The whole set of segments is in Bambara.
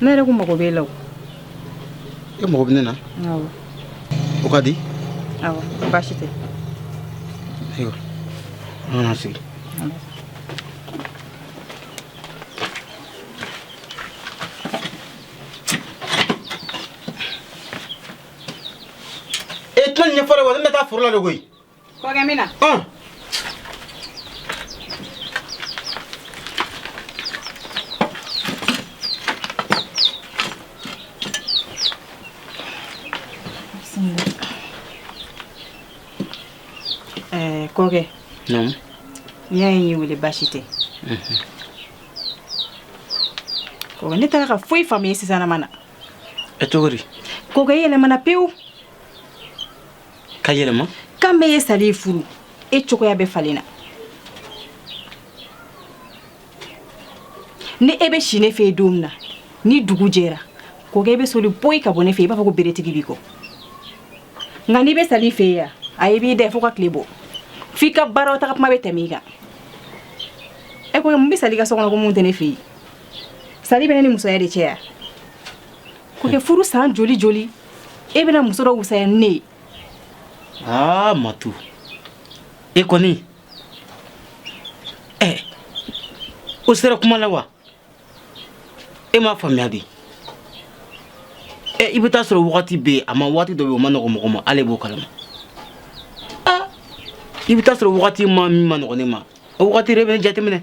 ne yɛrɛ ko mago b'e la o e mago bɛ ne na awɔ o ka di awɔ baasi tɛ ayiwa an ka sigi e tɛna nin ɲɛfɔ dɛ wa ne bɛ taa foro la de koyi Kɔkɛ n bɛ na. Ɔn! Ɛɛ kɔkɛ. Naamu. N'i y'a ye n y'i wele baasi tɛ. Unhun. Kɔkɛ ne t'a la ka foyi faamuya sisanama na. Ɛ cogo di? Kɔkɛ i yɛlɛmana pewu. ka yɛlɛma kabi e ye sali furu e cogoya bɛɛ falenna ni e bɛ si ne fɛ don min na ni dugu jɛra kɔkɛ e bɛ soli boli ka bɔ ne fɛ i b'a fɔ ko beretigi b'i kɔ nka n'i bɛ sali fɛ yan a e b'i da fo ka tile bɔ f'i ka baaraw taga kuma bɛ tɛmɛ i kan ne ko mun bɛ sali ka so kɔnɔ ko mun tɛ ne fɛ yen sali bɛ ne ni musoya de cɛ yan kɔkɛ furu san joli joli e bɛna muso dɔ wusaya ni ne ye aa matu e kɔni ɛ o sera kuma la wa e m'a faamuya de ɛ i bɛ t'a sɔrɔ wagati bɛ yen a ma waati dɔ bɛ yen o man nɔgɔ mɔgɔ ma ale b'o kalama aa i bɛ t'a sɔrɔ wagati ma min man nɔgɔ ne ma o wagati de bɛ ne jateminɛ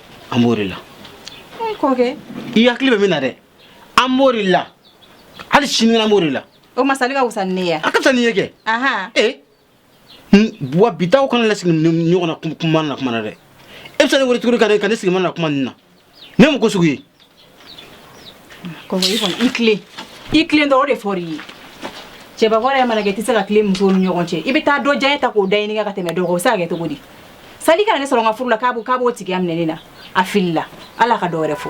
an b'o de la e kɔkɛ i hakili bɛ min na dɛ an b'o de la hali sini an b'o de la o ma sali ka wusa ni ne ye a ka fisa n'i ye kɛ ahan ee n- wa bi ta kɔ kana n lasigi nin ɲɔgɔnna kuma- kuma na kuma na dɛ e bɛ se ka ne wele tuguni ka ne ka ne sigi manamana kuma nin na nin ye mun ko sugu ye Kɔkɛ i kɔni i tilen i tilen dɔrɔn o de fɔra i ye cɛbakɔrɔ yɛrɛ mana kɛ i tɛ se ka tilen musow ni ɲɔgɔn cɛ i bɛ taa dɔ diyanye ta k'o da i ni kan ka tɛmɛ dɔ kan o bɛ se ka kɛ cogo di sali kana ne sɔrɔ n ka furu la k'a b'o k'a b'o tigiya minɛ ne na a filila ale ka dɔ wɛrɛ fɔ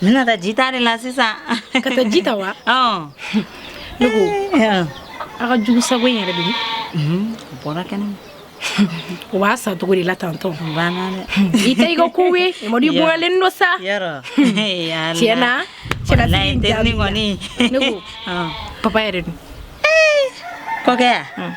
N bɛna taa ji ta de la sisan ka taa ji ta wa ne ko aw ka jugusago in yɛrɛ de bɔra kɛnɛ o b'a sa cogo de la tantɔn i tɛ i ka ko ye mɔdi bɔlen don sa tiɲɛ na cɛla kɔni ne ko papa yɛrɛ dun kɔkɛ yan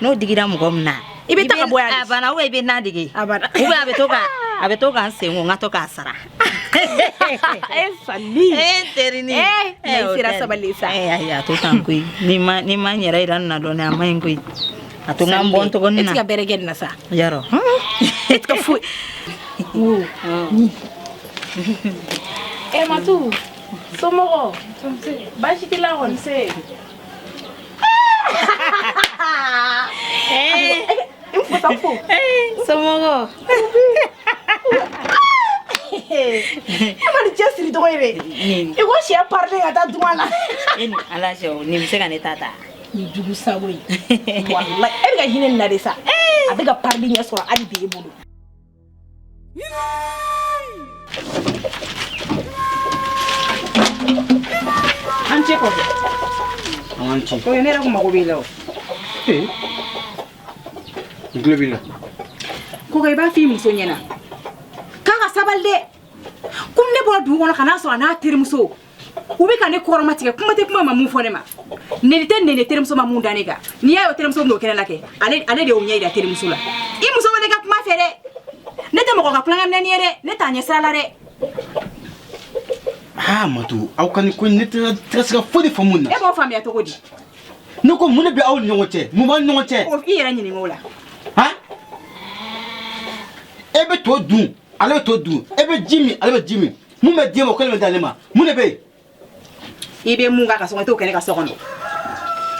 N'o digira mɔgɔ min na i bɛ taa bɔ a bana i bɛ na digi a bɛ to a bɛ to k'an sen n ka to k'a sara sabali sa a to koyi ni ma n yɛrɛ i na dɔn a man ɲi koyi a to n'an bɔ tɔgɔ ka bɛɛrɛ na sa yarɔ e ka foyi e matu somɔgɔ baasi t'i la kɔni Eh. Eh, somɔgɔ e ma nin cɛsiri cogo ye dɛ i ko sɛ parilen ka taa duma la e ni ala cɛ o nin bɛ se ka ne ta ta nin jugu sago ye walayi e bɛ ka hinɛ nin na de sa a bɛ ka parili ɲɛ sɔrɔ hali bi e bolo An ce kɔkɛ an ce ko ne yɛrɛ ko mago b'i la o n tulo b'i la kɔkɛ i b'a fɔ i muso ɲɛna k'a ka sabali dɛ komi ne bɔra dugu kɔnɔ ka n'a sɔrɔ a n'a terimuso u bɛ ka ne kɔrɔma tigɛ kuma tɛ kuma ma mun fɔ ne ma neni tɛ neni terimuso ma mun da ne kan n'i y'a ye o terimuso bɛn'o kɛnɛ la kɛ ale ale de y'o ɲɛ yira terimuso la i muso ma ne ka kuma fɛ dɛ ne tɛ mɔgɔ ka tulonkɛ minɛnin ye dɛ ne t'a ɲɛ sira la dɛ aa matu aw ka nin ko in ne tɛ tɛ se ka foyi de faamu nin na e b'o faamuya cogo di ne ko mun de bɛ aw ni ɲɔgɔn cɛ mun b'aw ni ɲɔgɔn cɛ o i yɛrɛ ɲininka o la han e bɛ to dun ale bɛ to dun e bɛ ji min ale bɛ ji min mun bɛ di e ma o kelen bɛ d'ale ma mun de bɛ yen i bɛ mun k'a ka so kɔnɔ i t'o kɛ ne ka so kɔnɔ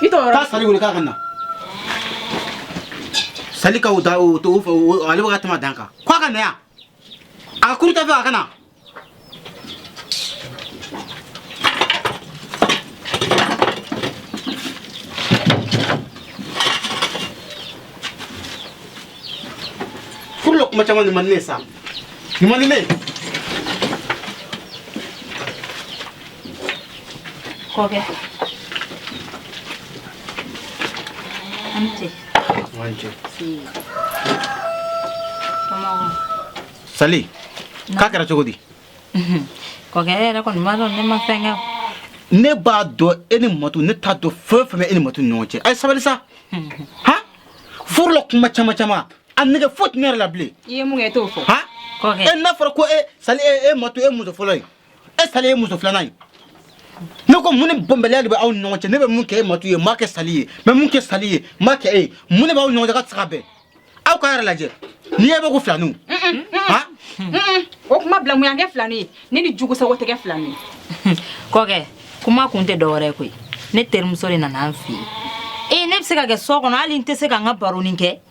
i t'o yarɔ taa sali wele k'a ka na sali ka o da o to o fɛ o- ale bɛ ka tɛmɛ dan kan k'a ka na yan a ka kuru ta fɛ a ka na furu la kuma caman de man di ne ye sa Nin man di ne ye kɔkɛ an ni ce an ni ce sali k'a kɛra cogo di kɔkɛ e yɛrɛ kɔni b'a dɔn ne ma fɛn kɛ ne b'a dɔn e ni matu ne t'a dɔn fɛn fɛn bɛ e ni matu ni ɲɔgɔn cɛ a ye sabali sa han furu la kuma caman caman a nɛgɛ foyi tɛ ne yɛrɛ la bilen i ye mun kɛ i t'o fɔ han kɔkɛ e n'a fɔra ko e sali e e matu ye muso fɔlɔ ye e sali ye muso filanan ye ne ko mun ni bɛnbaliya de bɛ aw ni ɲɔgɔn cɛ ne bɛ mun kɛ e matu ye n m'a kɛ sali ye n bɛ mun kɛ sali ye n m'a kɛ e ye mun de b'aw ni ɲɔgɔn cɛ k'aw tɛ se ka bɛn aw k'a yɛrɛ lajɛ n'i y'e bɛ ko filaninw han Mm-mm. o kuma bila mun y'an kɛ filani ye ne ni jugu sago tɛ kɛ filani ye kɔkɛ kuma kun tɛ dɔwɛrɛ ye koyi ne terimuso de nana an fɛ yen ee ne bɛ se ka kɛ so kɔnɔ hali n tɛ se ka n ka baronin kɛ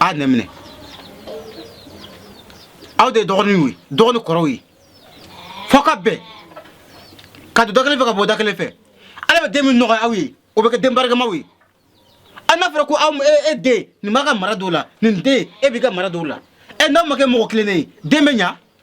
a nɛ minɛ aw de ye dɔgɔninw ye dɔgɔ ni kɔrɔw ye fo ka bɛn ka don da kelen fɛ ka bɔ da kelen fɛ ala bɛ den min nɔgɔya aw ye o bɛ kɛ den barikamaw ye a n'a fɔra ko aw e, e den nin b'a ka mara don o la nin den e b'i ka mara don o la e n'aw ma kɛ mɔgɔ kelen ye den bɛ ɲa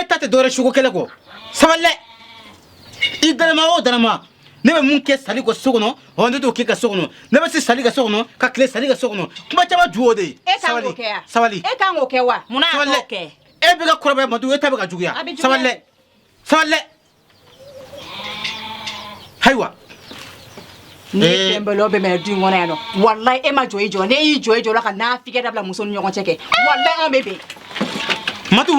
e ta tɛ dɔwɛrɛ sugu kɛlɛ kɔ sabali dɛ i dalama o dalama ne bɛ mun kɛ sali ka so kɔnɔ ɔ ne t'o kɛ ka so kɔnɔ ne bɛ si sali ka so kɔnɔ ka tile sali ka so kɔnɔ kuma caman ju o de ye e kan sabali k'o kɛ wa sabali e kan k'o kɛ wa munna a sabali t'o dɛ kɛ e bɛ ka kɔrɔbaya matu e ta bɛ ka juguya A bɛ juguya. sabali dɛ sabali dɛ Ayiwa ni ee. tɛnbɛlɔ bɛ mɛ du in kɔnɔ yan nɔ walayi e ma jɔ i jɔ n'i y'i jɔ i jɔ la ka nafigiya dabila muso ni ɲɔgɔn cɛ kɛ walayi an bɛ bɛn matu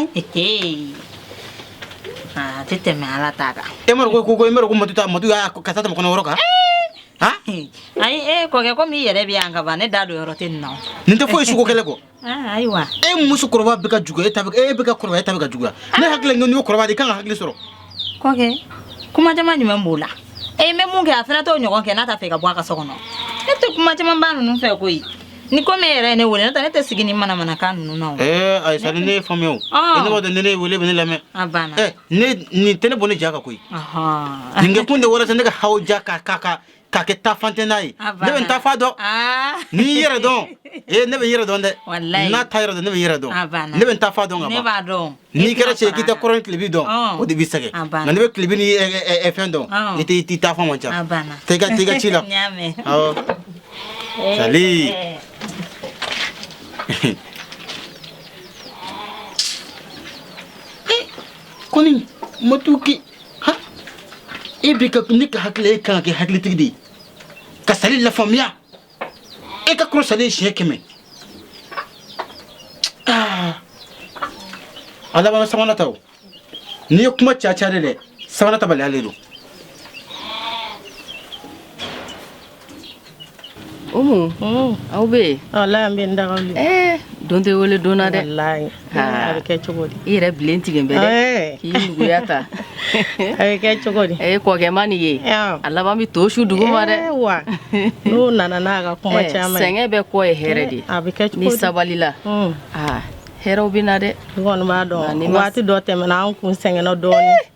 a tɛ tɛmɛ ala ta kan e m'a dɔn ko e m'a dɔn ko matu ta matu y'a ka taa tɛmɛ kɔnɔ yɔrɔ kan ayi e kɔkɛ komi i yɛrɛ bɛ yan ka ban ne da don yɔrɔ tɛ nin na nin tɛ foyi sugu kɛlɛ kɔ Ah, ayiwa e muso kɔrɔba bɛ ka jugu e ta bɛ- e bɛ ka kɔrɔbaya e ta bɛ ka juguya ne hakili la n'i y'o kɔrɔba de i kan ka hakili sɔrɔ kɔkɛ kuma caman jumɛn b'o la e n bɛ mun kɛ a fana t'o ɲɔgɔn kɛ n'a t'a fɛ ka bɔ a ka so kɔnɔ ne tɛ kuma caman ba ninnu fɛ koyi ni komi e yɛrɛ ye ne wele n'o tɛ ne tɛ sigi ni manamanakan ninnu na o ee ayisa ni ne ye faamuya o Ah. e ne b'a dɔn ni ne ye wele bɛ ne lamɛn a banna ɛ ne nin tɛ ne bɔ ne ja kan koyi Ɔhɔn. nin kɛ kun de walasa ne ka hawuja ka ka ka k'a kɛ taafan tɛ n'a ye ne bɛ n taafan dɔn ni yɛrɛ dɔn ee ne bɛ n yɛrɛ dɔn dɛ n'a t'a yɛrɛ dɔn ne bɛ n yɛrɛ dɔn ne bɛ n taafan dɔn ka n'i kɛra cɛ k'i tɛ kɔrɔn tilebin dɔn o de b'i sɛgɛn nka ne bɛ tilebin ni fɛn dɔn i tɛ tɛ taafan man ca tɛ ka tɛ ka ci la sali kɔni matu k'i Ha? E b'i ka ne ka hakili e kan ka kɛ hakilitigi de ye ka sali lafaamuya e ka kɔrɔ sali siɲɛ kɛmɛ Ah. a laban sabanan ta o n'i ye kuma caya caya de dɛ sabanan tabaliya le don Umu aw bɛ walayi an bɛ n daga don tɛ wele donna dɛ a bɛ kɛ cogo di i yɛrɛ bilen tigɛ bɛ dɛya ta a bɛ kɛ cogo di a ye kɔkɛma nin ye a laban bɛ to su dugu ma dɛ wa n'o nana n'a ka kuma caman sɛgɛn bɛɛ kɔ ye hɛrɛ de a bɛ kɛ n'i sabalila hɛrɛ bɛ na dɛ i kɔni b'a dɔn waati dɔ tɛmɛna an kun sɛgɛnna dɔɔnin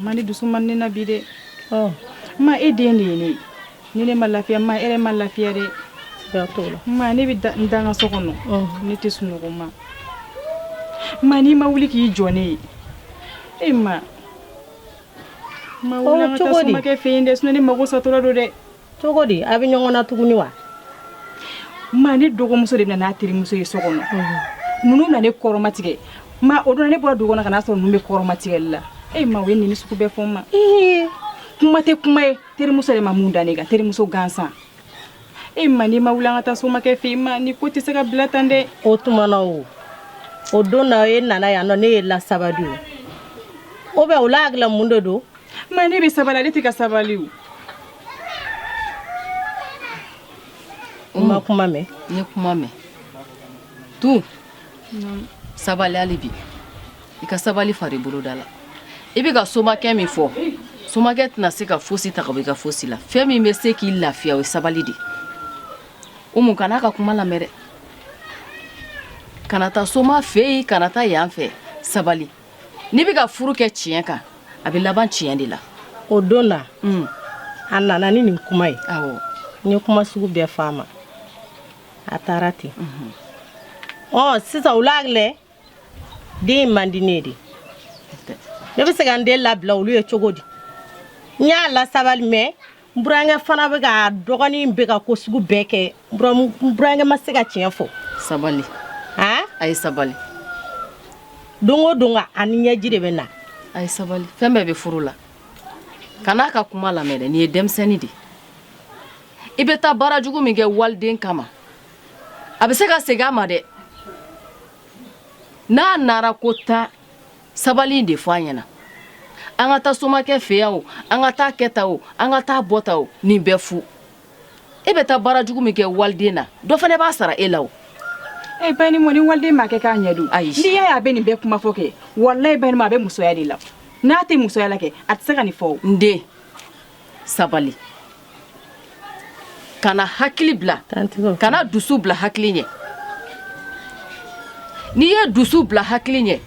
ma ne dusu man ne na bi dɛ ma e den de ye ne ye ni ne ma lafiya ma e yɛrɛ ma lafiya dɛ ma ne bɛ n da n ka so kɔnɔ ne tɛ sunɔgɔ ma ma n'i ma wuli k'i jɔ ne ye e ma ma wuli an ka taa somakɛ fɛ yen dɛ sinɔn ne mako satɔla don dɛ Cogo di a bɛ ɲɔgɔn na tuguni wa ma ne dɔgɔmuso de nana n'a terimuso ye so kɔnɔ ninnu nana ne kɔrɔmatigɛ ma o don ne bɔra dugu kɔnɔ ka n'a sɔrɔ ninnu bɛ kɔrɔmatigɛli la e ma o ye nin sugu bɛɛ fɔ n ma ee kuma tɛ kuma ye terimuso de ma min da ne kan terimuso gansan e ma n'i ma wuli an ka taa somakɛ fɛ ma nin ko tɛ se ka bila tan dɛ o tuma na o don na e nana yan o ne y'e lasabali o bɛ o la hakilila mun de don Maa ne bɛ sabali ale tɛ ka sabali o. N ma kuma mɛn. N ye kuma mɛn. Tun. Sabali hali bi. I ka sabali fara i boloda la. I bɛ ka somakɛ min fɔ. Somakɛ tɛna se ka fosi ta ka bɔ i ka fosi la. Fɛn min bɛ se k'i lafiya o ye sabali de. Umu kan'a ka kuma lamɛn dɛ. Kana taa soma fɛ yen, kana taa yan fɛ. Sabali. n'i bɛ ka furu kɛ tiɲɛ kan a bɛ laban tiɲɛ de la o don na mm. a nana ni nin kuma ye awɔ n ye kuma sugu bɛɛ fɔ a ma a taara ten mhm. ɔ sisan o la ale den man di ne ye de ne bɛ se ka n den labila olu ye cogo di n y'a lasabali mɛ n burankɛ fana bɛ ka dɔgɔnin bɛ ka ko sugu bɛɛ kɛ n burankɛ ma se ka tiɲɛ fɔ sabali a ye sabali don o don a ni ɲɛji de bɛ na a ye sabali fɛn bɛɛ bɛ furu la kan'a ka kuma lamɛn dɛ nin ye denmisɛnnin de i bɛ taa baara jugu min kɛ waliden kama a bɛ se ka segin a ma dɛ n'a nara ko tan sabali de fɔ a ɲɛna an ka taa somakɛ fɛ yan o an ka taa kɛta o an ka taa bɔta o nin bɛɛ fu e bɛ taa baara jugu min kɛ waliden na dɔ fana b'a sara e la o e ba ni mɔni waliden ma kɛ k'a ɲɛ dɔn ayi n'i y'a ye a bɛ nin bɛɛ kuma fɔ kɛ walayi ba ni a bɛ musoya de la n'a tɛ musoya la kɛ a tɛ se ka nin fɔ n den sabali kana hakili bila kana dusu bila hakili ɲɛ n'i ye dusu bila hakili ɲɛ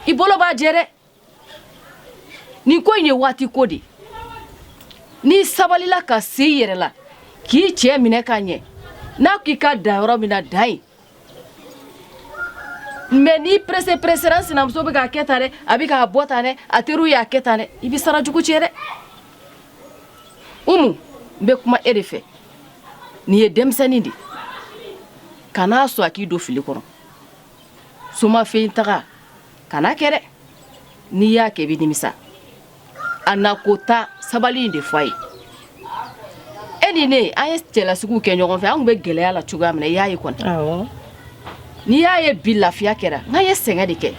i bolo b'a jɛ dɛ nin ko in ye waati ko de n'i sabalila ka se i yɛrɛ la k'i cɛ minɛ ka ɲɛ n'a k'i ka dan yɔrɔ min na dan yen Mɛ n'i perese peresera n sinamuso bɛ k'a kɛ tan dɛ a bɛ k'a bɔ tan dɛ a teriw y'a kɛ tan dɛ i bɛ sara jugu cɛ dɛ umu n bɛ kuma e de fɛ nin ye denmisɛnnin de kana sɔn a k'i don fili kɔnɔ soma fɛ yen taga kana kɛ dɛ n'i y'a kɛ i bɛ nimisa a na ko ta sabali in de fɔ a ye e ni ne an ye cɛlasigiw kɛ ɲɔgɔn fɛ an tun bɛ gɛlɛya la cogoya min na i y'a ye kɔni n'i y'a ye bi lafiya kɛra nk'an ye sɛgɛn de kɛ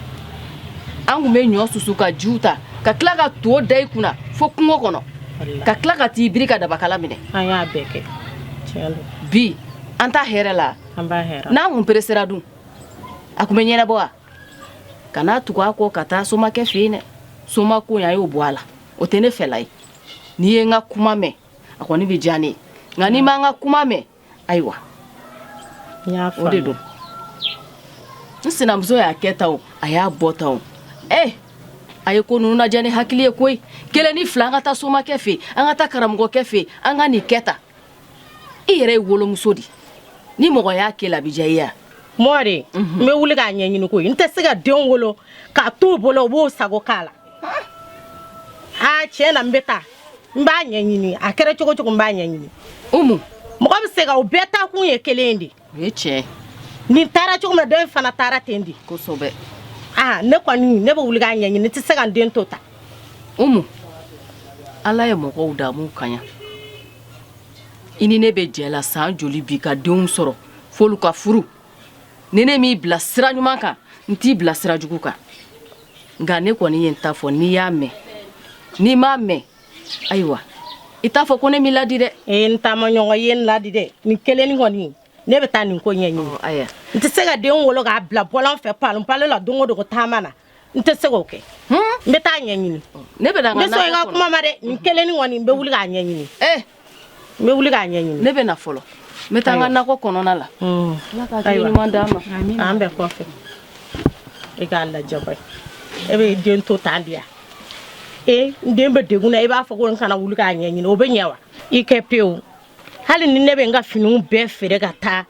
an tun bɛ ɲɔ susu ka jiw ta ka tila ka to da i kunna fo kungo kɔnɔ ka tila ka t'i biri ka dabakala minɛ an y'a bɛɛ kɛ bi an t'a hɛrɛ la n'an kun peresera dun a tun bɛ ɲɛnabɔ wa kana tugu a kɔ ka taa somakɛ fɛ yen dɛ somako a y'o bɔ a la o tɛ ne fɛla ye n'i ye n ka kuma mɛn a kɔni bɛ diya ne ye nka n'i ma n ka kuma mɛn ayiwa o de don n sinamuso y'a kɛ tan o a y'a bɔ tan o ee eh, a ye ko ninnu lajɛ ni hakili ye koyi kelen ni fila an ka taa somakɛ fɛ yen an ka taa karamɔgɔkɛ fɛ yen an ka nin kɛ tan i yɛrɛ ye wolomuso di ni mɔgɔ y'a k'e la a bɛ diya i ye mɔri mhm. n bɛ wuli k'a ɲɛɲini koyi n tɛ se ka den wolo k'a t'u bolo u b'u sago k'a la aa tiɲɛ na n bɛ taa n b'a ɲɛɲini a kɛra cogo cogo n b'a ɲɛɲini umu mɔgɔ bɛ se ka u bɛɛ taa kun ye kelen de o ye tiɲɛ nin taara cogo min na dɔ in fana taara ten di kosɛbɛ aa ne kɔni ne bɛ wuli k'a ɲɛɲini ne tɛ se ka n den to tan umu ala ye mɔgɔw da a m'u kaɲa i ni ne bɛ jɛ la san joli bi ka denw sɔrɔ f'olu ka furu ni ne m'i bila sira ɲuman kan n t'i bila sira jugu kan nka ne kɔni ye n ta fɔ n'i y'a mɛn n'i m'a mɛn ayiwa i t'a fɔ ko ne m'i ladi dɛ ee n taama ɲɔgɔn ye n ladi dɛ nin kelenni kɔni ne bɛ taa nin ko ɲɛɲini aya n tɛ se ka den wolo k'a bila bɔlɔn fɛ palon palon la don o don ko taama na n tɛ se k'o kɛ n bɛ taa ɲɛɲini ne bɛ na n ka nakɔ kɔnɔ n bɛ sɔn i ka kuma ma dɛ nin kelenni kɔni n bɛ wuli k'a ɲɛɲini ee n bɛ wuli k'a ɲɛɲini ne bɛ na fɔlɔ n bɛ taa n ka nakɔ kɔnɔna la ala ka hakili ɲuman d'an ma an bɛ kɔfɛ i k'a lajɛ bani e bɛ den to tan di yan e n den bɛ degun na i b'a fɔ ko n kana wuli k'a ɲɛɲini o bɛ ɲɛ wa i kɛ pewu hali ni ne bɛ n ka finiw bɛɛ feere ka taa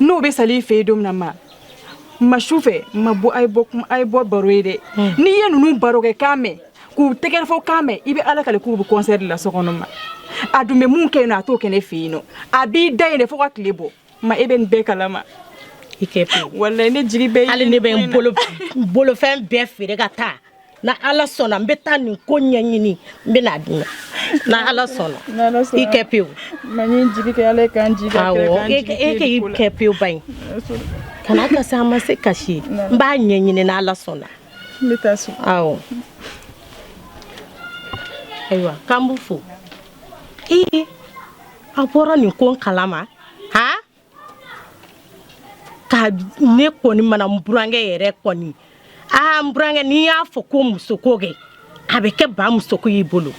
n'o bɛ sali fɛ yen don min na ma ma su fɛ ma bɔ a bɔ a ye bɔ baro ye dɛ hmm. n'i ye ninnu baro kɛ kan mɛn k'u tɛgɛrɛ fɔ kan mɛn i bɛ ala kale k'u bɛ concert de la so kɔnɔ ma a dun bɛ mun kɛ yen nɔ a t'o kɛ ne fɛ yen nɔ a b'i da yen de fo ka tile bɔ ma e bɛ nin bɛɛ kalama i kɛ walayi ne jigi bɛ hali ne bɛ n bolofɛn bɛɛ feere ka taa na ala sɔnna n bɛ taa nin ko ɲɛɲini n bɛna di na na ala sɔnna i kɛ pewu e kɛ i kɛ pewu ba i kana kasi a ma se kasi ye n b'a ɲɛɲini na ala sɔnna awɔ ayiwa k'an b'u fo ee a bɔra nin ko kalama han ka ne kɔni mana n burankɛ yɛrɛ kɔni aa n burankɛ n'i y'a fɔ ko musoko kɛ a bɛ kɛ ba musoko y'i bolo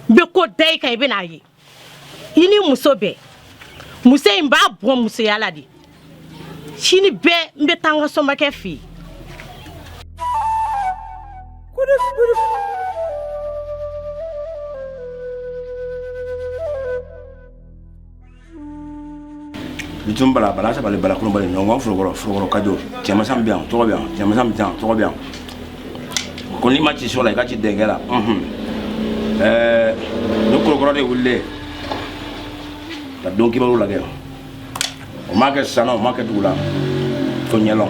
n bɛ ko da i kan i bɛn'a ye i ni muso bɛɛ muso in b'a bɔ musoya la de sini bɛɛ n bɛ taa n ka somakɛ fɛ yen bitun bala bala saba bala kulu bala ɲɔgɔn forokɔrɔ forokɔrɔ kajo cɛmasan bɛ yan tɔgɔ bɛ yan cɛmasan bɛ yan tɔgɔ bɛ yan ko n'i ma ci so la i ka ci denkɛ la ɛɛ ni korokɔrɔ de wulilen ka don kibaru lagɛ o ma kɛ san na o ma kɛ dugu la to ɲɛlɔn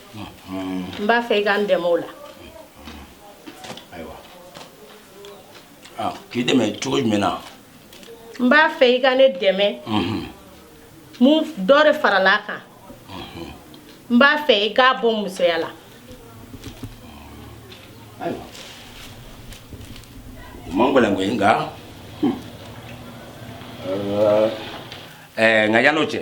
n b'a fɛ i ka n dɛmɛ o la k'i dɛmɛ cogo jumɛn na n b'a fɛ i ka ne dɛmɛ mun dɔ de farala a kan n b'a fɛ i k'a bɔ musoya la ayiwa o man gɛlɛn koyi nka ɛɛ nka yan'o cɛ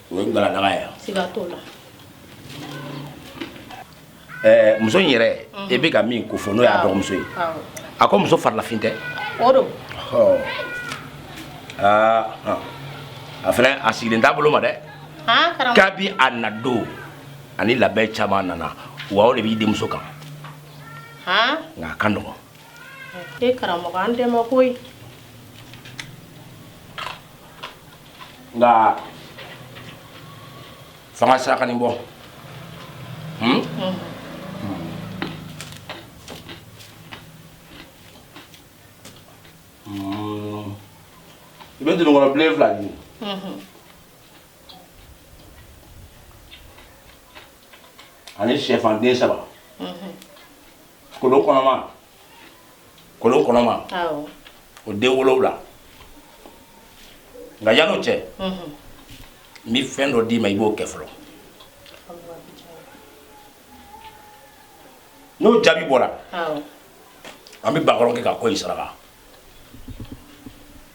o ye galadaga ye siga t'o la ɛɛ muso in yɛrɛ e bɛ ka min ko fɔ n'o y'a dɔgɔmuso ye a ko muso farilafin tɛ o don aa a fana a sigilen t'a bolo ma dɛ kabi a na don ani labɛn caman nana wa o de b'i denmuso kan nka a ka nɔgɔn e karamɔgɔ an dɛmɛ koyi nka f'an ka saraka nin bɔ hmm? hmm. i bɛ dununkɔrɔ bilen fila ɲini ani sɛfan den saba kolon kɔnɔma kolon kɔnɔma o den wolowula nka yan'o cɛ n bɛ fɛn dɔ d'i ma i b'o kɛ fɔlɔ n'o jaabi bɔra an bɛ bakɔrɔn kɛ ka ko in saraka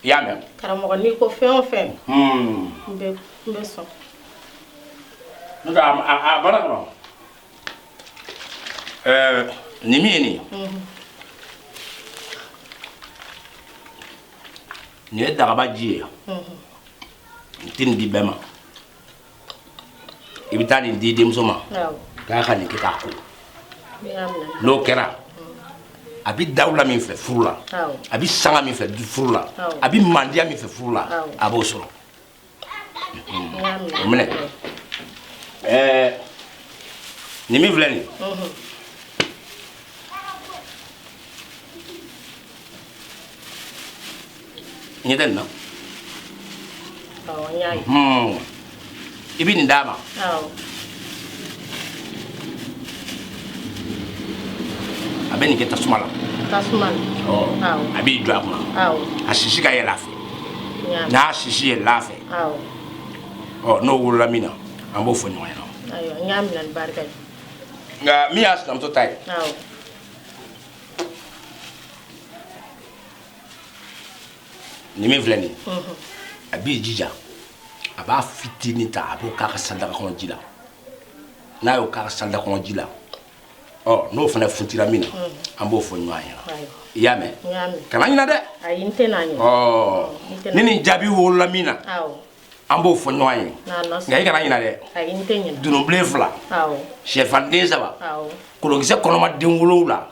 i y'a mɛn karamɔgɔ n'i ko fɛn o fɛn hmm. n bɛ sɔn a bɔra kɔnɔ Eh, nin min ye nin ye nin ye dagaba ji ye n tɛ nin di bɛɛ ma i bɛ taa nin di denmuso ma awɔ k'a ka nin kɛ k'a ko n y'a minɛ n'o kɛra a bɛ dawula min fɛ furu la Awɔ. a bɛ sanga min fɛ du- furu la Awɔ. a bɛ mandiya min fɛ furu la Awɔ. a b'o sɔrɔ O minɛ ɛɛ nin min filɛ nin ye ɲɛ tɛ nin na i bɛ nin d'a ma a bɛ nin kɛ tasuma la a b'i jɔ a kunna a sisi ka yɛlɛ a fɛ n'a sisi yɛlɛla a fɛ ɔ n'o wolola min na an b'o fɔ ɲɔgɔn ɲɛna nka min y'a sinamuso ta ye nin min filɛ nin a b'i jija a b'a fitinin ta a b'o k'a ka salidaga kɔnɔ ji la n'a y'o k'a ka salidaga kɔnɔ ji la n'o fana funtira min na an b'o fɔ ɲɔgɔn ɲɛna i y'a mɛn kana ɲinɛ dɛ ni nin jaabi wolola min na an b'o fɔ ɲɔgɔn ye nka i kana ɲinɛ dɛ dununbilen fila shɛfan den saba kolonkisɛ kɔnɔma den wolowula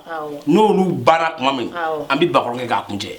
n'olu banna tuma min an bɛ bakɔrɔn kɛ k'a kuncɛ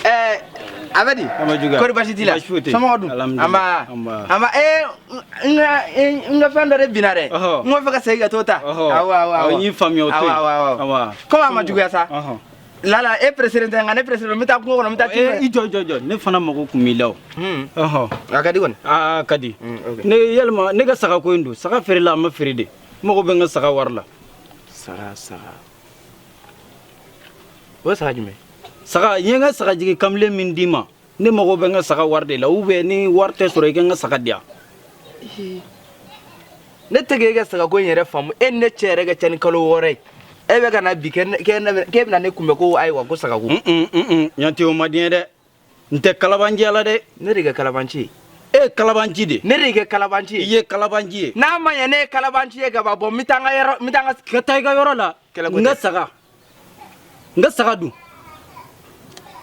Eh, abadi kori basi t'i la somɔgɔ dun anba anba ee n ka n ka fɛn dɔ de binna dɛ n ko fɛ ka segin ka t'o ta awɔ awɔ awɔ n y'i faamuya o to yen awɔ awɔ komi a ma juguya sa lala e pereselen tɛ nka ne pereselen n bɛ taa kungo kɔnɔ n bɛ taa tiɲɛ i jɔ jɔ jɔ ne fana mago tun b'i la o a ka di kɔni a ka di ne yalima ne ka saga ko in don saga feerela a ma feere de n mago bɛ n ka saga wari la saga saga o ye saga jumɛn saga n ye n ka saga jigi kamalen min d'i ma ne mago bɛ n ka saga wari de la ou bien ni wari tɛ sɔrɔ i ka n ka saga di yan ne tɛ k'e ka sagako in yɛrɛ faamu e ni ne cɛ yɛrɛ ka ca ni kalo wɔɔrɔ ye e bɛ ka na bi k'e bɛna ne kunbɛn ko ayiwa ko sagako yan tɛ o ma di n ye dɛ n tɛ kalabanciya la dɛ ne de kɛ kalabanci ye e ye kalabanci de ne de kɛ kalabanci ye i ye kalabanci ye n'a ma ɲɛ ne ye kalabanci ye ka ban bɔ n bɛ taa n ka yɔrɔ n bɛ taa n ka ka taa i ka yɔrɔ la Kɛlɛ ko n ka tɛ. saga n ka saga dun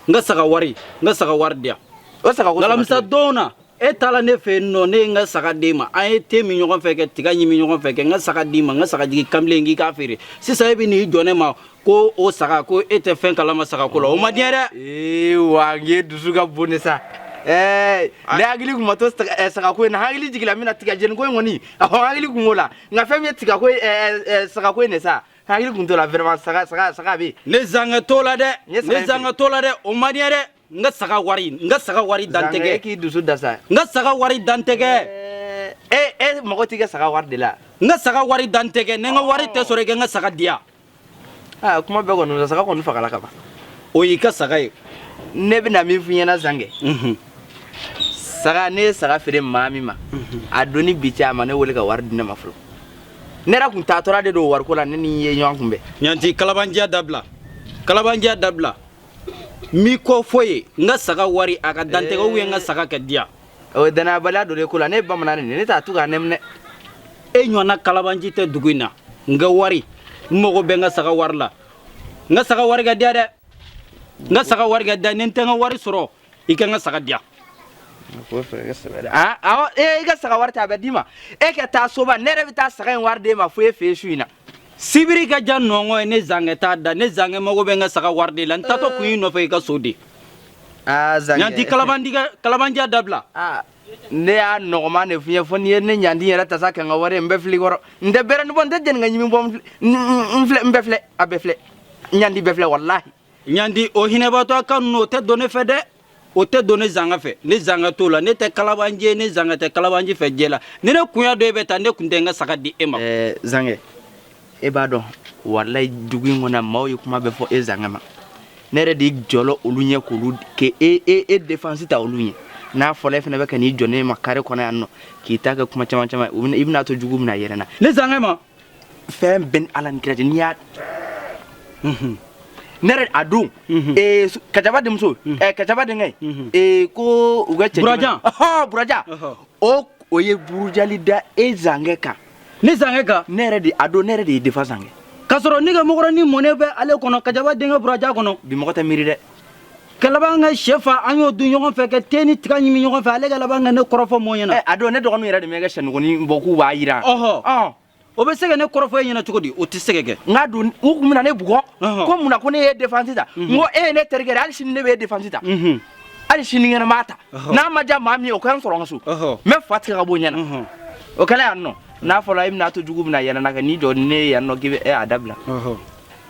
n ka saga wari n ka saga wari di yan o saga ko saga alamisa tɛ. don na e taala ne fɛ yen nɔ ne ye n ka saga d'e ma an ye te min ɲɔgɔn fɛ kɛ tiga ɲimi ɲɔgɔn fɛ kɛ n ka saga d'i ma n ka sagajigi kamalen k'i k'a feere sisan e bɛ n'i jɔ ne ma ko o saga ko e tɛ fɛn kalama saga ko la o man di n ye dɛ. ee wa n ye dusu ka bon de sa. ɛɛ ah. ne hakili kun ma to eh, sagako in na hakili jiginna min na tigajɛniko in kɔni ɔhɔ hakili kun b'o la nka fɛn min ye tigako eh, eh, sagako in de sa hakili kun t'o la vraiment saga saga saga bɛ yen. ne zangɛ t'o la dɛ ne zangɛ t'o la dɛ o man di n ye dɛ. n ka saga wari n ka saga wari dantɛgɛ k'i dusu da sa n ka saga wari dantɛgɛ e e mago t'i ka saga wari de la n ka saga wari dantɛgɛ ni n ka wari tɛ sɔrɔ i ka n ka saga di yan aa kuma bɛɛ kɔni saga kɔni fagala ka ban o y'i ka saga ye ne bɛna min f'i ɲɛna zangɛ saga ne ye saga feere maa min ma a don ni bi cɛ a ma ne wele ka wari di ne ma fɔlɔ ne yɛrɛ kun taatɔra de don wariko la ne n'i ye ɲɔgɔn kunbɛn ɲanti kalabanciya dabila kalabanciya dabila mi ko fɔ ye n ka saga wari a ka dantɛgɛ ou bien n ka saga kɛ di yan o ye danayabaliya dɔ de ko la ne ye bamanan de ye ne t'a to k'a nɛminɛ e ɲɔgɔnna kalabanci tɛ dugu in na n ka wari n mago bɛ n ka saga wari la n ka saga wari ka di yan dɛ n ka saga wari ka di yan ni n tɛ n ka wari sɔrɔ i ka n ka saga di yan awɔ i ka saga wari ta a bɛ d'i ma e ka taa so ba ne yɛrɛ bɛ taa saga in wari d'e ma fo e fɛ yen su in na sibiri ka ja nɔngɔ ye ne zankɛ t'a da ne zankɛ mago bɛ n ka saga wari de la n taatɔ kun y'i nɔfɛ i ka so de aa zankɛ ɲanti kalabanciya kalabanciya dabila aa ne y'a nɔgɔman de f'i ye fo n'i ye ne ɲandi yɛrɛ ta sa kɛ n ka wari ye n bɛ filɛ kɔrɔ n tɛ bɛrɛ ni bɔ n tɛ jɛni ka ɲimi bɔ n filɛ n bɛ filɛ a bɛ filɛ ɲandi bɛ filɛ walahi ɲandi o hinɛbatɔ kan ninnu o tɛ don ne fɛ dɛ o tɛ don ne zangɛ fɛ ne zangɛ t'o la ne tɛ kalabanci ye ne zangɛ tɛ kalabanci fɛ jɛ la ni ne kun y'a dɔn e bɛ tan ne kun tɛ n ka saga di e ma eh, zangɛ e b'a dɔn walayi dugu in kɔnɔ maaw ye kuma bɛɛ fɔ e zangɛ ma ne yɛrɛ de jɔlɔ olu ɲɛ k'olu k'e e e e défense ta olu ɲɛ n'a fɔla e fana bɛ ka n'i jɔ ne ma carré kɔnɔ yan nɔ k'i ta kɛ kuma caman caman i bɛna to jugu bɛna yɛrɛ na ne zangɛ ma fɛn bɛn ala ni kira cɛ n'i y'a ne yɛrɛ a dɔn ee su- kacaba denmuso eh, kacaba denkɛ ee ko u ka cɛ Burajan. Ɔhɔ, buraja Ɔhɔ. o o ye burujali da e zankɛ kan ne zankɛ kan ne yɛrɛ de a dɔn ne yɛrɛ de ye défendre zankɛ k'a sɔrɔ ne ka mɔgɔrɔni mɔnɛ bɛ ale kɔnɔ kacaba denkɛ buraja kɔnɔ bi mɔgɔ tɛ miiri dɛ ka laban ka shɛ fa an y'o dun ɲɔgɔn fɛ ka te ni tiga ɲimi ɲɔgɔn fɛ ale ka laban ka ne kɔrɔfɔ mɔgɔ ɲɛna a don ne dɔgɔninw yɛrɛ de bɛ kɛ sɛnuguni bɔ k'u b'a jira ɔhɔ o bɛ se ka ne kɔrɔfɔ e ɲɛna cogo di o tɛ se ka kɛ n ka don u tun bɛna ne bugɔ ko mun na ko ne ye defense ta n ko e ye ne terikɛ ye hali sini ne bɛ e defense ta hali sinikɛnɛ n b'a ta n'a ma diya maa min ye o ka n sɔrɔ n ka so n bɛ fa tigɛ ka bɔ ɲɛna o kɛlen yan nɔ n'a fɔra e bɛna to jugu bɛna yɛlɛna kɛ n'i jɔ ni ne ye yan nɔ k'i bɛ a dabila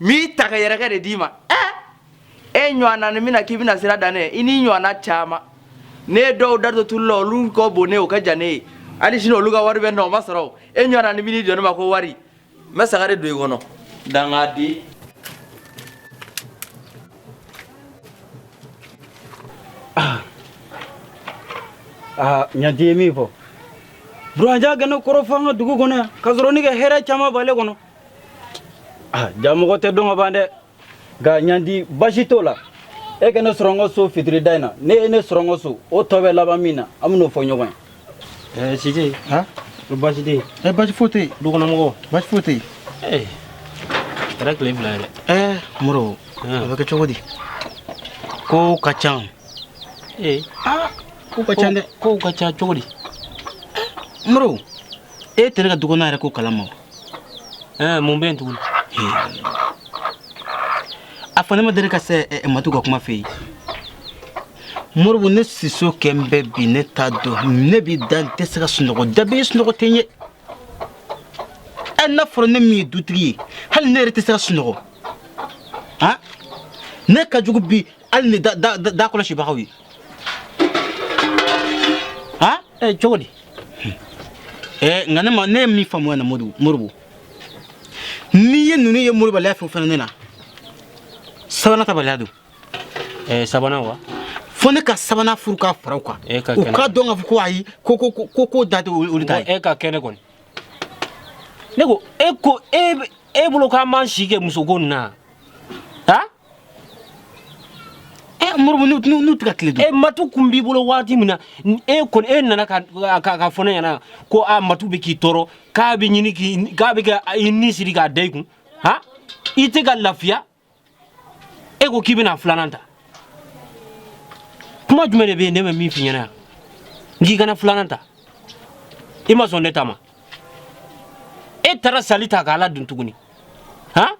n tɛgɛ yɛrɛkɛ de d'i ma e ɲɔgɔnnanin bɛ na k'i bɛna sira dan ne i n'i ɲɔgɔnna caman ne ye dɔw da to tulu la olu ka bon n'e o ka jan n'e ye hali sini olu ka wari bɛ n na o ma sɔrɔ e ɲɔgɔnnanin b'i jɔ ne ma ko wari n bɛ sagare don i kɔnɔ dangaden ah. Ah, ɲanti ye min fɔ burajan ka ne kɔrɔfɔ an ka dugu kɔnɔ yan ka sɔrɔ ne ka hɛrɛ caman b'ale kɔnɔ ah, jaa mɔgɔ tɛ dɔn ka ban dɛ nka ɲandi basi t'o la e ka ne sɔrɔ n ka so fitiri da in na n'e ye ne sɔrɔ n ka so o tɔ bɛ laban min na an bɛn'o fɔ ɲɔgɔn ye ɛɛ sise ko basi tɛ yen ɛ basi foyi tɛ yen dukɔnɔmɔgɔw basi foyi tɛ yen ee kɛra tile fila ye dɛ ɛɛ moro o bɛ kɛ cogo di kow ka ca ee aa kow ka ca dɛ kow ka ca cogo di moro e tɛ ne ka dukɔnɔ yɛrɛ ko kalama wa Eh, mun bɛ yen tuguni a fɔ ne ma deli ka se eh, eh, matu ka kuma fɛ yen moribo ne siso kɛlen bɛ bi ne t'a dɔn ne b'i da n tɛ se ka sunɔgɔ da bɛ sunɔgɔ tɛ n ye ɛ n'a fɔra ne min ye dutigi ye hali ne yɛrɛ tɛ se ka sunɔgɔ han ne ka jugu bi hali ni da da da kɔlɔsibagaw ye han ɛ cogo di ɛ nka ne ma ne ye min faamuya na moribo moribo n'i ye ninnu ye malobaliya fɛn o fɛn ne na sabanan tabaliya don ɛ sabanan wa fo ne ka sabanan furu k'a fara u kan u k'a dɔn k'a fɔ ko ayi ko ko ko ko ko da tɛ olu olu ta ye e ka kɛnɛ kɔni ne ko e ko e bɛ- e bolo k'an b'an si kɛ musoko nin na han Eh, moribo n'u tɛ ka tile dun. E matu tun b'i bolo waati min na e kɔni e nana ka k'a fɔ ne ɲɛna ko a matu bɛ k'i tɔɔrɔ k'a bɛ ɲini k'i k'a bɛ ka i ni siri k'a da i kun han i tɛ ka lafiya e ko k'i bɛna filanan ta kuma jumɛn de bɛ yen ne ma min f'i ɲɛna yan n k'i kana filanan ta i ma sɔn ne ta ma e taara sali ta k'a ladon tuguni han.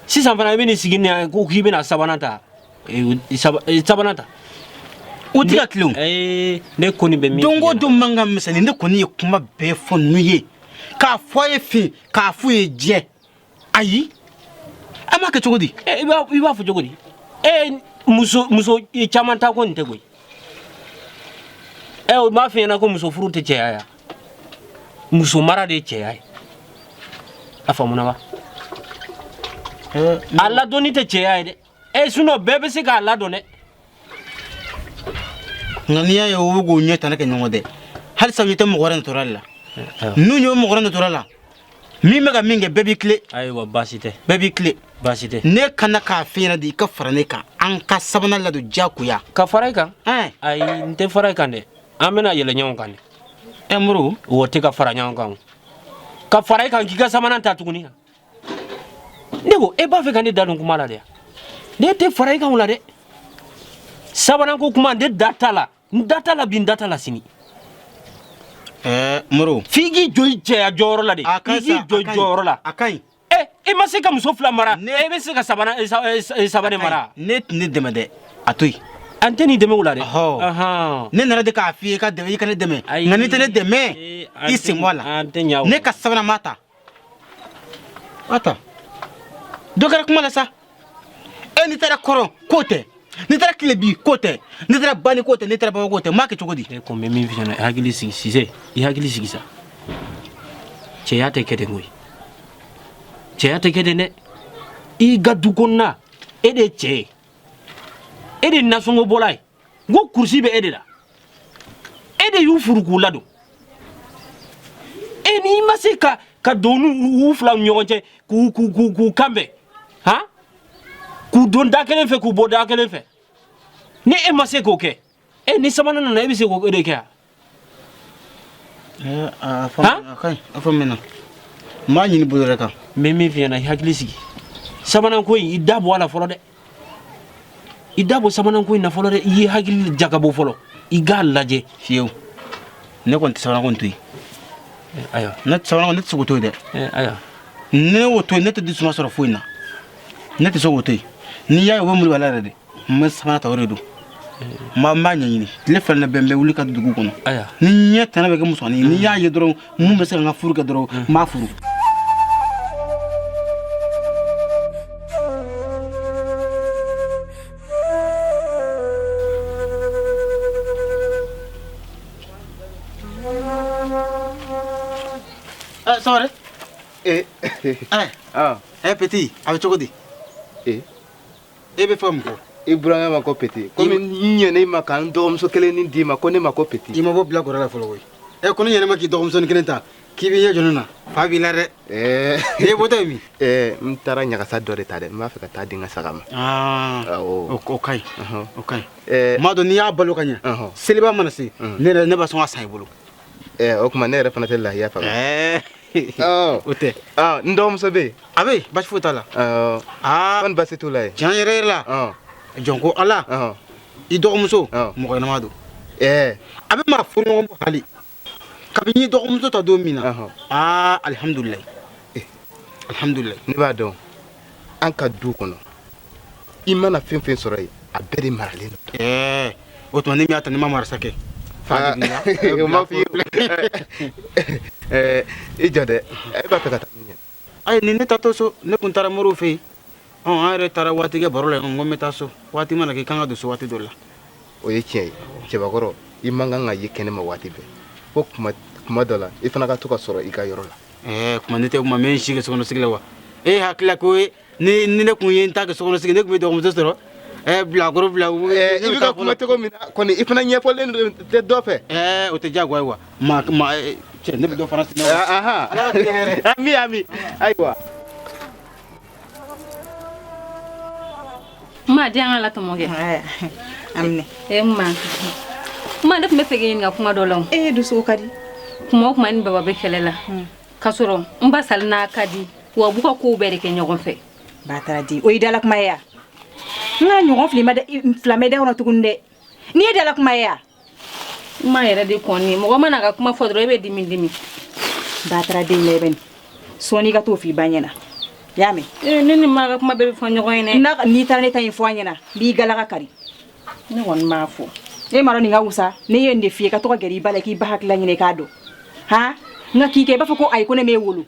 sisan fana i bɛ nin sigi ni yan ko k'i bɛna sabanan ta eh, eh, eh, sabanan ta o tɛ ka tilen ne kɔni bɛ min don o don mankan misɛnnin ne kɔni ye kuma bɛɛ fɔ n'u ye k'a fɔ a ye fin k'a f'u ye jɛ ayi an b'a kɛ cogo di i b'a fɔ cogo di muso muso caman ta ko nin tɛ koyi ɛ o m'a f'i ɲɛna ko muso furu tɛ cɛya ye muso mara de ye cɛya ye a faamuna wa a ladonni tɛ cɛya ye dɛ ɛ sinon bɛɛ bɛ se k'a ladon dɛ nka n'i y'a ye o bɛ k'o ɲɛ tana kɛ ɲɔgɔn dɛ halisa i tɛ mɔgɔ wɛrɛ nɔtɔra de la n'u ye mɔgɔ wɛrɛ nɔtɔra la min bɛ ka min kɛ bɛɛ b'i tilen ayiwa baasi tɛ bɛɛ b'i tilen baasi tɛ ne kana k'a f'i ɲɛna de i ka fara ne kan an ka sabanan ladon diyagoya ka fara i kan ɛn ayi n tɛ fara i kan dɛ an bɛna yɛlɛ ɲɔgɔn kan de ɛ moro o tɛ ka fara ɲɔgɔn kan o. ka fara i kan k'i ka sabanan ta tuguni ne ko e b'a fɛ ka ne da don kuma la dɛ ne tɛ fara i kan o la dɛ sabanan ko kuma ne da t'a la n da t'a la bi n da t'a la sini ɛɛ moro f'i k'i jɔ i cɛya jɔyɔrɔ la de a ka ɲi sa, a ka ɲi. i k'i jɔ i jɔyɔrɔ la a ka ɲi Eh, i ma se ka muso fila mara Ne- e bɛ se ka sabana eh, sa- eh, sa- eh, saba de mara n'e tɛ ne dɛmɛ dɛ a to yen an tɛn'i dɛmɛ o la dɛ Ɔhɔ. Ahan. ne nana de k'a f'i ye i ka dɛmɛ i ka ne dɛmɛ Ayi. nka n'i tɛ ne dɛmɛ Eh, an tɛ- i sen bɔ a la an tɛ ɲɛ o ma. ne ka sabanan ma ta A ta. Dɔ kɛra kuma la sa. E n'i taara kɔrɔn k'o tɛ. N'i taara tilebin k'o tɛ. N'i taara bani k'o tɛ. N'i taara baba k'o tɛ. N b'a kɛ cogo di? E ko n bɛ min f'i ɲɛna i hakili sigi Sise. I hakili sigi sa. Cɛya tɛ kɛ ten koyi. Cɛya tɛ kɛ ten dɛ. I ka du kɔnɔna e de ye cɛ ye. E de ye nasɔngɔ bɔla ye. n ko kurusi bɛ e de la e de y'u furu k'u ladon e n'i ma se ka ka don n'u fila ni ɲɔgɔn cɛ k'u k'u k'u k'u kanbɛn han k'u don da kelen fɛ k'u bɔ da kelen fɛ ni e ma se k'o kɛ e ni sabanan nana e bɛ se k'o de kɛ wa Eh, a fɔ a ka ɲi a faamuna n b'a ɲini bolo yɛrɛ kan n bɛ min f'i ɲɛna i hakili sigi sabanan ko in i da bɔ a la fɔlɔ dɛ i da bɔ sabanan ko in na fɔlɔ dɛ i y'i hakili jagabɔ fɔlɔ i k'a lajɛ fiyewu ne kɔni tɛ sabanan ko in to yen eh, ayiwa ne tɛ sabanan ko ne tɛ se k'o to yen dɛ eh, ayiwa ne y'o to yen ne tɛ dususuma sɔrɔ foyi in na ne tɛ se k'o to yen n'i y'a ye o bɛ murubala yɛrɛ de n bɛ sabanan ta o de don n b'a ɲɛɲini tile fila na bɛn n bɛ wuli ka dugu kɔnɔ ni ɲɛ tɛnɛ bɛ kɛ musomanin ye n'i y'a ye dɔrɔn min bɛ se ka n ka furu kɛ dɔrɔn n b'a furu sɔgɔma ee ɛɛ ɛɛ peti a bɛ cogo di ee e bɛ fɔ mun ko i burankɛ ma ko peti komi n ɲɛna i ma ka n dɔgɔmuso kelen nin d'i ma ko ne ma ko peti i ma bɔ bilakoro la fɔlɔ koyi ɛ ko ne ɲɛn'i ma k'i dɔgɔmusonin kelen ta k'i b'i ɲɛ jɔ ne na fa b'i la dɛ e bɔtɔ ye min n taara ɲagasa dɔ de ta dɛ n b'a fɛ ka taa di n ka saga ma o ka ɲi o ka ɲi m'a dɔn n'i y'a balo ka ɲɛ seliba mana se ne yɛrɛ ne bɛ sɔn k'a san i bolo ɛ o tuma ne yɛrɛ fana tɛ lahiya faga o tɛ n dɔgɔmuso bɛ yen a bɛ yen baasi foyi t'a la kɔni baasi t'u la yen tiɲɛ yɛrɛ yɛrɛ la jɔn ko ala i dɔgɔmuso mɔgɔ ɲɛnama don a bɛ maa furu ɲɔgɔn bɔ hali kabini i dɔgɔmuso ta don min na aa alihamudulilayi alihamudulilayi ne b'a dɔn an ka du kɔnɔ i mana fɛn fɛn sɔrɔ yen a bɛɛ de maralen don ɛɛ o tuma ne min y'a ta ne ma marasa kɛ ah, o ma f'i ye bilen i jɔ dɛ e b'a fɛ ka taa min ɲɛ ayi ni ne taatɔ so ne tun taara moriw fɛ yen ɔn an yɛrɛ taara waati kɛ baro la yen ko n bɛ taa so waati mana kɛ i kan ka don so waati dɔ la o ye tiɲɛ ye cɛbakɔrɔ i man kan ka ye kɛnɛ ma waati bɛɛ fo kuma dɔ la i fana ka to ka sɔrɔ i ka yɔrɔ la ɛɛ kuma ne tɛ kuma mɛ n si kɛ sokɔnɔsigi la wa e hakilila ko ye ni ni ne tun ye n ta kɛ sokɔnɔsigi ne tun b'i dɔgɔmuso sɔrɔ ɛɛ bilakoro bila ɛɛ i bɛ ka kuma cogo min na kɔni i fana ɲɛbɔlen tɛ dɔ fɛ ɛɛ o tɛ diyagoya ye wa ma ma cɛ ne bɛ dɔ fana sinna wa ahan ami ami ayiwa Ma di an k'a latɔmɔ kɛ e ma ne tun b'a fɛ k'i ɲininka kuma dɔ la e dusu ka di kuma o kuma ni baba bɛ kɛlɛ la k'a sɔrɔ n basali n'a ka di wa u b'u ka ko bɛɛ de kɛ ɲɔgɔn fɛ bataraden o y'i dala kuma ye wa n kan'a ɲɔgɔn fila mɛn i da kɔnɔ tugun dɛ nin y'i dala kuma ye wa ma yɛrɛ de kɔni mɔgɔ man'a ka kuma fɔ dɔrɔn e bɛ dimi dimi bataraden la i bɛ nin sɔɔni i ka t'o f'i ba ɲɛna i y'a mɛn ee ne ni ma ka kuma bɛɛ bɛ fɔ ɲɔgɔn ye dɛ n'a n'i taara ne ta in fɔ a ɲɛna n b'i galaka kari ne kɔni b'a fɔ e m'a dɔn nin ka wusa ne ye nin de f'i ye ka to ka gɛrɛ i ba la k'i ba hakilila ɲini k'a dɔn han nka k'i kɛ i b'a fɔ ko ayi ko ne m'e wolo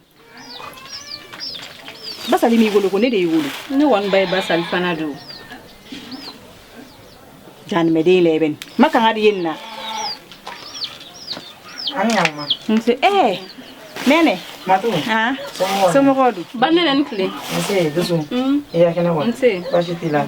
basali m'i wolo ko ne de y'i wolo ne kɔni ba ye basali fana don janimɛden la i bɛ nin ma kanga de ye nin na nse ee nɛnɛ ah, somɔgɔw dun ba nɛnɛ i ni tile nse dusu i ka kɛnɛ wa nse baasi t'i la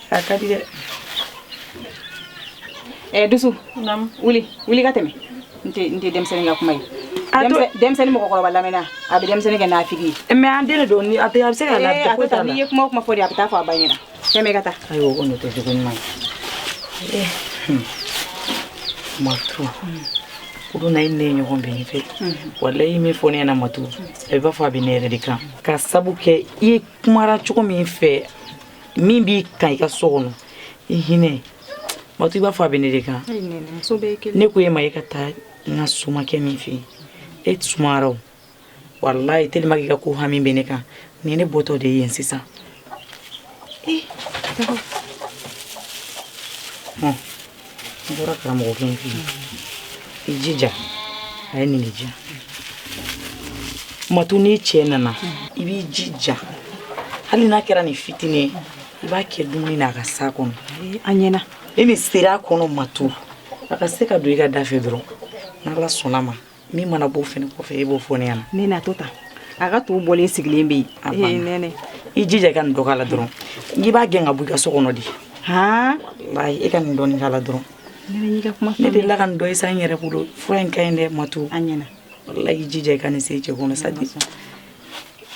eh, dusu wuli wuli ka tɛmɛ nin tɛ denmisɛnnin ka kuma ye denmisɛnnin mɔgɔkɔrɔba lamɛnna a bɛ denmisɛnnin kɛ nafigi ye eh, mɛ an den don a bɛ se ka lafiya ko t'a la n'i ye kuma o kuma fɔ de a bɛ taa fɔ a ba ɲɛna tɛmɛ i ka taa ayiwa o kɔni o tɛ jogo ɲuman ye eh, hmm. matu kunun na i ne ye ɲɔgɔn bɛn fɛ hmm. walayi i ye min fɔ ne ɲɛna matu a bɛ i b'a fɔ a bɛ ne yɛrɛ de kan ka sabu kɛ i kumara cogo min fɛ min b'i kan i ka so kɔnɔ i hinɛ matu i b'a fɔ a bɛ ne de kan ne ko e ma e ka taa n ka somakɛ min fɛ yen e sumayara o walayi tellement k'i ka ko hami bɛ ne kan nin ne bɔtɔ de ye yen sisan ee N bɔra karamɔgɔkɛ in fɛ yen. I jija a ye nin de di yan. Matu n'i cɛ nana i b'i jija hali n'a kɛra nin fitinin ye i b'a kɛ dumuni na a ka s'a kɔnɔ. A ɲɛna. Ni nin sera a kɔnɔ Matu a ka se ka don i ka da fɛ dɔrɔn n'Ala sɔnn'a ma Min mana bɔ fɛn in kɔfɛ e b'o fɔ ne ɲɛna nɛnɛ a to tan a ka to bɔlen sigilen bɛ yen nɛnɛ i jija i ka nin dɔ k'a la dɔrɔn i b'a gɛn ka bɔ i ka so kɔnɔ dɛ walayi e ka nin dɔɔnin k'a la dɔrɔn ne de la ka nin dɔ san n yɛrɛ bolo fura in ka ɲi dɛ matu a ɲɛna walayi i jija i ka nin se cɛ kɔnɔ sa dɛ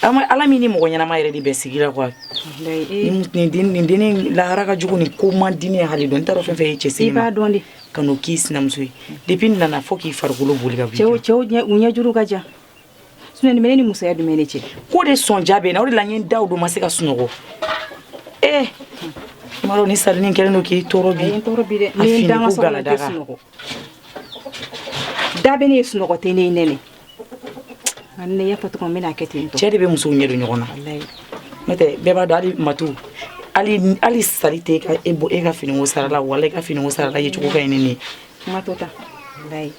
Ala min ni mɔgɔ ɲɛnama yɛrɛ de bɛ sigi la den lahala ka jugu nin ko man di ne ye hali dɔɔnin n t'a dɔn fɛn fɛn ye cɛ se b'a dɔn ka k'i sinamuso ye depuis n nana fɔ k'i farikolo boli ka ɲɛjuru ka jan sinon nin musoya di ne cɛ ko de son jaabi bɛ na o la da don ma se ka sunɔgɔ ee ni sa kelen don k'i Da bɛ ne sunɔgɔ tɛ ne nɛnɛ ne y'a fɔ cogo min na kɛ ten cɛ de bɛ musow ɲɛ don ɲɔgɔn na n'o tɛ bɛɛ b'a dɔn matu hali sali tɛ ka e bɔ e ka fini sara la wala e ka fini sara la yecogo ka ɲi ne ye kuma to tan ne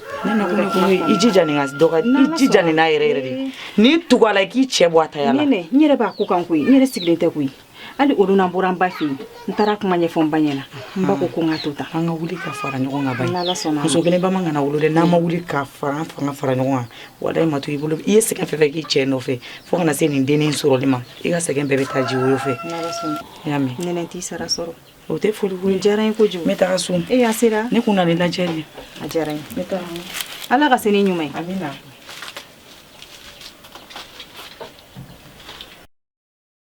i jija nin ka dɔgɔ i jija nin n'a yɛrɛ yɛrɛ de ni tugu la k'i cɛ bɔ a ta yan n yɛrɛ b'a ko kan koyi n yɛrɛ sigilen tɛ koyi hali olu na bɔra n ba fɛ yen n taara kuma ɲɛfɔ n ba ɲɛna n ba ko ko n ka to tan an ka wuli ka fara ɲɔgɔn kan bayi n'ala sɔnna muso kelen ba man kan k'an wolo dɛ n'an ma wuli ka fara an fanga fara ɲɔgɔn kan walayi matu i bolo i ye sɛgɛn fɛn fɛn k'i cɛ nɔfɛ fo ka na se nin dennin sɔrɔli ma i ka sɛgɛn bɛɛ bɛ taa ji woyo fɛ n'ala sɔnna i y'a mɛn nɛnɛ t'i sara sɔrɔ o tɛ foli ko ye diyara n ye kojugu n bɛ taga so e y'a sera ne kun na nin lajɛli a diyara n ye n bɛ taga ala k'i se ni ɲuman ye amina